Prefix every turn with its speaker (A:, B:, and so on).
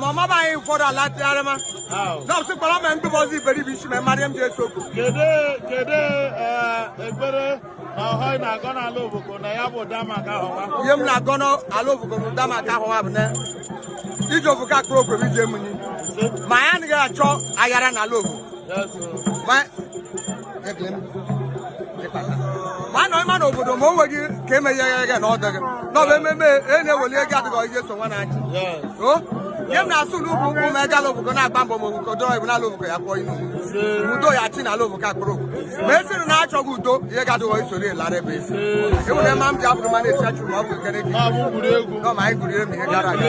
A: ma ọmaba anyị ụfọdụ ala tịgharị ma nọọsụ kpọrọ ma ndị bọzi iberibe isi ma marịa m ji eso okwu kedu kedu ekpere na ọhọị na-agọ n'ala obodo na ya bụ damaka ahụwa ihe m na-agọ n'ala obodo na damaka ahụwa bụ na iji obodo akpụrụ ogwe m iji emunyi ma anyị anaghị achọ aghara n'ala obodo mana ịma na obodo ma o nweghị ka emegheghị gị na ọ dịghị na ọ bụ ememe e na-eweli ego adịghị ihe so nwa na-achị nye m na-asụ n'ugwu ụkwụ ma egala obodo na-agba mbọ ma obodo dọrọ ibu n'ala obodo ya kpọọ inu udo ya chi n'ala obodo akpụrụ ma esiri na achọghị udo ihe ga-adịghọ isoro elara ebe esi enwere ma m ji abụrụ ma na-echachu ma ọ bụ ekene gị nọ ma anyị gụrụ ihe gara aga